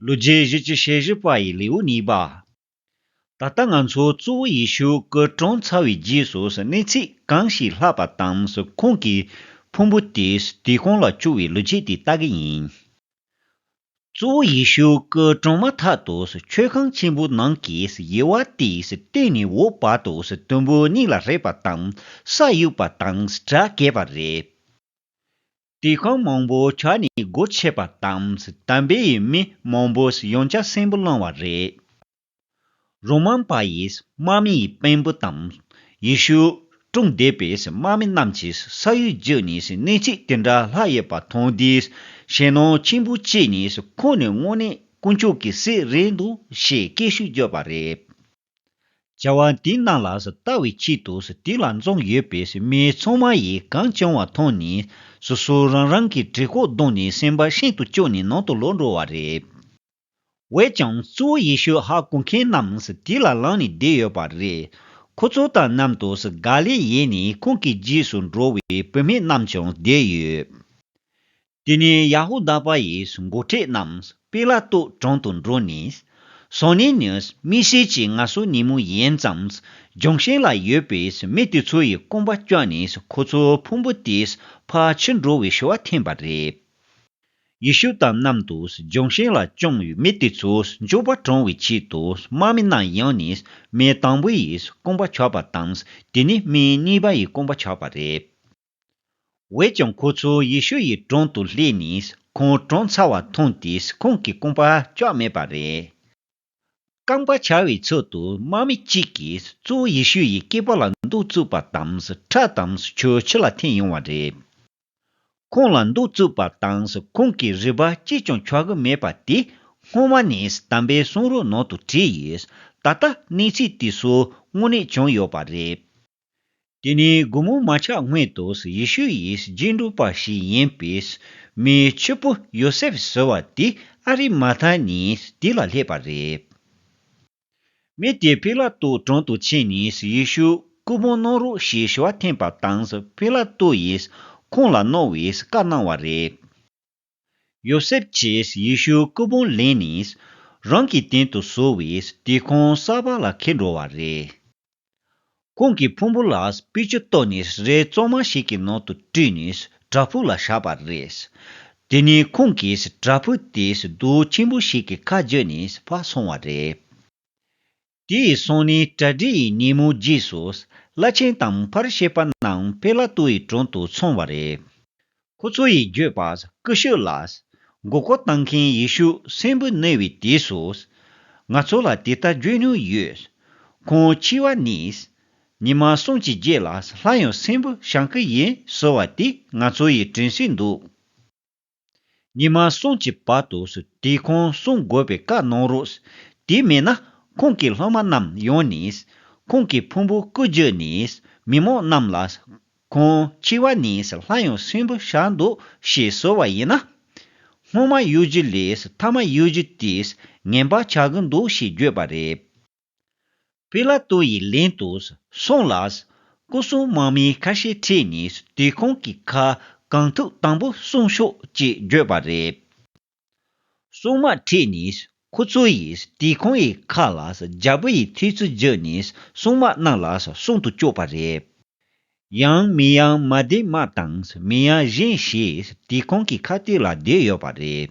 ལོ་རྗེས་གཞིས་ཀྱི་ཤེས་བཞི་པ་ཡི་ལེའུ་གཉིས་པ། ད་ལྟ་ང་ཚོ་གཙོ་བོ་ཡེ་ཤུ་སྐུ་གྲོངས་ཚར་བའི་རྗེས་སུ་གནས་ཚིག་གང་ཞིག་ལྷག་པ་དང་ཁོང་གི་ཕུང་པོ་དེས་དུས་གང་ལ་བཅུག་བའི་ལོ་རྗེས་དེ་ལྟ་གི་ཡིན། གཙོ་བོ་ཡེ་ཤུ་སྐུ་གྲོངས་མ་ཐག་ཏུ་མཆོད་ཁང་ཆེན་པོའི་ནང་གི་དབྱེ་བ་དེ་སྟེང་ནས་འོག་བར་དུ་དུམ་བུ་གཉིས་ལ་རེག་པ་དང་ས་གཡུགས་པ་དང་སྒྲ་སྐད་པ་རེད། དུས་གང་མང་པོ་ཆགས་ནས་སྒོ་ཕྱེས་པ་དང་དམ་པའི་མི་མང་པོས་ཡང་བསྐྱར་སྲིན་བུ་བསླང་བ་རེད། རོ་མཱན་པ་ཡིས་དམག་མི་ཡི་དཔོན་པོ་དང། ཡེ་ཤུ་དཀྲུགས་བསྡད་པའི་དམག་མི་རྣམས་ཀྱིས་ས་གཡོས་བརྒྱུད་ནས་གནས་ཚུལ་དེ་འདྲ་ལྷག་ཡོད་པ་མཐོང་དུས་ཞེད་སྣང་ཆེན་པོ་སྐྱེས་ནས་ཁོང་ནི་དངོས་གནས་དཀོན་མཆོག་གི་སྲས་རེད་འདུག་ཞེས་སྐད་ཤུགས་བརྒྱབ་པ་རེད། བྱ་བ་འདི་གནང་ལ་ལྟ་བའི་ཆེད་དུ་དེ་ལ་འཛོམས་ཡོད་པའི་མི་ཚང་མ་ཡིས་གངས་ལྗོངས་བ་མཐོང་ནས་སོ་སོ་རང་རང་གི་གྲི་ཁོག་བརྡུང་ནས་སེམས་པ་ཤིན་ཏུ་སྐྱོ་ནས་ནང་དུ་ལོག་འགྲོ་བ་རེད། འོད་ཀྱང་གཙོ་བོ་ཡེ་ཤུ་ཧ་གོ་མཁན་རྣམས་དེ་ལ་ལངས་ནས་བསྡད་ཡོད་པ་རེད། ཁོ་ཚོ་དང་མཉམ་དུ་ག་ལེ་ཡེ་ནས་ཁོང་གི་རྗེས་སུ་འགྲོ་བའི་བུད་མེད་རྣམས་ཀྱང་བསྡད་ཡོད། དེ་ནས་ཡ་ཧུ་དཱ་པ་ཡིས་མགོ་མཁྲེགས་རྣམས་པེ་ལ་ཏོའི་དྲུང་དུ་འགྲོ་ནས། སོ་ནེ་ནིའུས་མི་སེར་གྱི་ང་སོ་ནི་མོ་ཡིན་ཙམ་ལྗོངས་ཞིང་ལ་ཡོད་པའི་མི་དེ་ཚོ་ཡི་སྐོམ་པ་བསྐྱོན་ནས་ཁོ་ཚོའི་ཕུང་པོ་དེས་ཕར་ཕྱིར་འགྲོ་བའི་ཞུ་བ་འཐེན་པ་རེད། ཡེ་ཤུ་དང་མཉམ་དུ་ལྗོངས་ཞིང་ལ་བཅོམ་བའི་མི་དེ་ཚོ་མགྱོགས་པར་དྲོངས་བའི་ཆེད་དུ་དམག་མི་རྣམས་ཡོང་ནས་མི་དང་པོ་ཡི་སྐོམ་པ་ཆགས་པ་དང་དེ་ནས་མི་གཉིས་པ་ཡི་སྐོམ་པ་ཆགས་པ་རེད། འོད་ཀྱང་ཁོ་ཚོ་ཡེ་ཤུ་ཡི་དྲུང་དུ་ལྷས་ནས་ཁོང་གྲོངས་ཚར་བ་མཐོང་སྟེ་ཁོང་གི་རྐང་པ་ཅོག་མེད་པ་རེད། རྐང་པ་འཆར་བའི་ཚུལ་དུ་དམག་མི་གཅིག་གིས་གཙོ་བོ་ཡེ་ཤུ་ཡི་སྐེད་པ་ལ་འདུག་བཙུགས་པ་དང་ཁྲག་དང་ཆུ་ཕྱི་ལ་འཐེན་ཡོང་བ་རེད། ཁོང་ལ་འདུག་བཙུགས་པ་དང་ཁོང་གི་རུས་པ་གཅིག་ཀྱང་འཁྱོག་གི་མེད་པ་དེ་སྔོན་མ་ནས་དམ་པའི་གསུང་རོལ་ནང་དུ་བྲིས་ཡོད། ད་ལྟ་གནས་ཚུལ་དེ་སོགས་དངོས་གནས་བྱུང་ཡོད་པ་རེད། དེ་ནས་དགུང་མོ་མ་ཆགས་སྔོན་དུ་ཡེ་ཤུ་ཡི་རྗེས་འགྲོ་པ་ཞིག་ཡིན་པའི་མིའི་ཕྱུག་པོ་ཡོ་སེབ་ཟེར་བ་དེ་ཨ་རི་མ་ཐ་ནས་དེ་ལ་སླེབས་པ་རེད། མི་དེས་པི་ལ་ཏུ་དྲུང་དུ་ཕྱིན་ནས་ཡེ་ཤུ་སྐུ་ཕུང་གནང་རོགས་ཞེས་ཞུ་བ་འཐེན་པ་དང་པི་ལ་ཏུ་ཡིས་ཁོང་ལ་གནང་བའི་བཀའ་གནང་བ་རེད། ཡོ་སེབ་ཀྱིས་ཡེ་ཤུའི་སྐུ་ཕུང་ལེན་ནས། རང་གི་སྟེང་དུ་བཟོ་བའི་དུད་ཁང་གསར་པ་ལ་ཁེལ་འགྲོ་བ་རེད། ཁོང་གི་ཕུང་པོ་ལ་པུས་ཆུ་བཏོན་ནས་རས་བཙོ་མ་ཞིག་གི་ནང་དུ་བཀྲུས་ནས་བྲག་ཕུག་ལ་བཞག་པ་རེད། དེ་ནས་ཁོང་གིས་བྲག་ཕུག་དེའི་རྡོ་ཆེན་པོ་ཞིག་གི་ཁ་བརྒྱུད་ནས་ཕར་སོང་བ་རེད། དེ་ཡི་གསུང་ནི་གྲ་སྒྲིག་ཡི་ཉིན་མོའི་རྗེས་སུ། བླ་ཆེན་དང་ཕར་བཤད་པ་རྣམས་དཔེ་བླ་སྟོད་ཡི་དྲུང་དུ་འཚོང་བ་རེད། ཁོ་ཚོ་ཡི་བརྗོད་པ་སྐུ་ཤོས་ལ། མགོ་སྐོར་བཏང་མཁན་ཡི་ཤུགས་སེམས་བུ་བསྣོལ་བའི་དུས་སུ། ང་ཚོ་ལ་དེ་ལྟར་བརྗོད་མྱོང་ཡོད། ཁོང་འཆི་བ་ནི། ཉི་མ་གསུམ་གྱི་རྗེས་ལ་ལྷ་ཡང་སེམས་བུ་ཞང་སྐུ་ཡིན་ཟེར་བ་དེ་ང་ཚོ་ཡི་དྲན་སྲོལ་འདུག། ཉི་མ་སྲུང་བྱེད་པ་དུ་དེ་ཁོང་བསྲུང་དགོས་པའི་བཀའ་གནང་རོགས། དེ་མེད་ན་ཁོང་གི་སློབ་མ་རྣམས་ཡོང་ནས། ཁོང་གི་ཕུང་པོ་སྐུ་བརྗོད་ནས་མི་མང་རྣམས་ལ། ཁོང་འཆི་བ་ནས་སླར་ཡང་སྲིན་པོ་ཞག་འདུག་ཞེས་གསོལ་བ་ཡིན་ན། སྔོན་མ་གཡོ་སྒྱུ་ལས་མཐའ་མ་གཡོ་སྒྱུ་དེས་ངན་པ་བྱ་གི་འདུག་ཞེས་བརྗོད་པ་རེད། པི་ལ་ཏོ་ཡི་ལན་དུ་སོང་ལ། སྐུ་སྲུང་དམག་མི་ཁ་ཤས་ཁྲིད་ནས་དུས་ཁོང་གི་ཁ་གང་ཐུག་དང་པོ་སྲུང་ཤོག་ཅེས་བརྗོད་པ་རེད། སྲུང་དམག་ཁྲིད་ནས་ཁོ་ཚོ་ཡིས་དུས་ཁོང་ཡི་ཁ་ལ་རྒྱལ་པོ་ཡི་ཐུགས་རྩི་བརྗོད་ནས་སྲུང་དམག་རྣམས་ལ་སྲུང་དུ་བཅུག་པ་རེད། ཡང་མི་ཡང་མ་བསྡད་དམག་དང་མི་ཡང་བཞེངས་ཞེས་དུས་ཁོང་གི་ཁ་ཐུག་ལ་བསྡོད་ཡོད་པ་རེད།